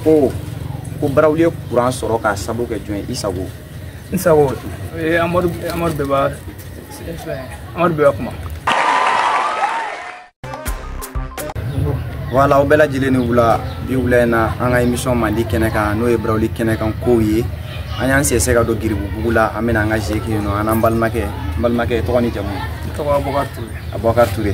ko ko barawuli ye kuran sɔrɔ k'a sabu kɛ jɔn ye isago isago amadu amadu bayiba amadu bayiba kuma voilà aw bɛɛ lajɛlen ni wula bi wula in na an ka émission mandi kɛnɛ kan n'o ye barawuli kɛnɛ kan kow ye an y'an sɛsɛ ka don giribubugu la an bɛna an ka jeu kɛ yen nɔ an n'an balimakɛ n balimakɛ tɔgɔ ni jamu tɔgɔ abubakar ture abubakar ture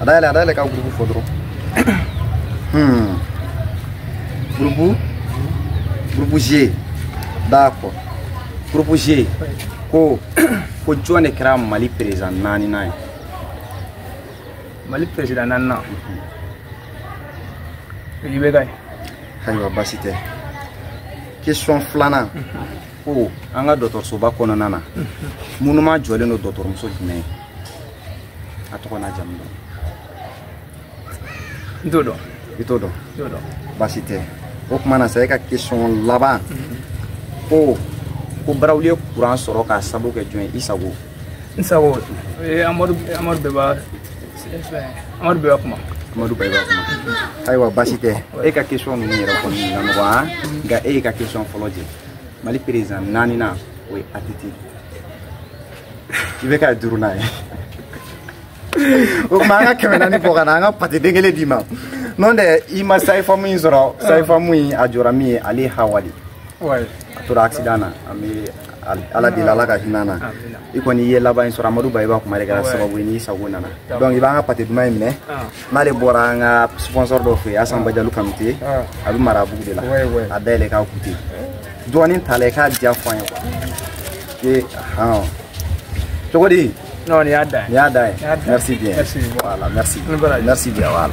a dayɛlɛ a dayɛlɛ ka groupe fɔ dɔrɔn groupe groupe g d'accord groupe g ko ko jɔn de kɛra mali président naaninan ye mali président naaninan ibeka ye ayiwa baasi tɛ question filanan ko an ka dɔgɔtɔrɔsoba kɔnɔna na monument jɔlen don dɔgɔtɔrɔmuso jumɛn ye a tɔgɔ n'a jamu dɔn n t'o dɔn i t'o dɔn t'o dɔn baasi tɛ o kuma na sa e ka question laban mhm. ko ko barawuli ye kuran sɔrɔ k'a sabu kɛ jɔn ye isago isago eh, amadu amadu bayiba amadu bayiba kuma amadu bayiba kuma ayiwa baasi tɛ e ka question ninnu yɛrɛ kɔni na nɔgɔya mhm. nka e y'i ka question fɔlɔ jɛ mali président naaninan o ye atiti ibeka duurunan ye o kuma an ka kɛmɛ naani fo ka na an ka pâté den kelen d'i ma n'o tɛ i ma sage-femme in sɔrɔ sage-femme in a jɔra min ye ale ye hawa li a tora accident na an bɛ ala deli ala ka hinɛ na i kɔni i ye laban in sɔrɔ amadu bayiba kuma de kɛra sababu ye ni isago nana donc i b'an ka pâté duman in minɛ n'ale bɔra an ka sponsor dɔ fɛ yen asan bajalu kanute a bɛ marabugu de la a dayɛlɛ k'a goûter dɔɔnin t'a la i k'a diya fɔ an ye quoi e hɔn cogo di non nin y'a da ye nin y'a da ye merci bien voilà merci merci bien voilà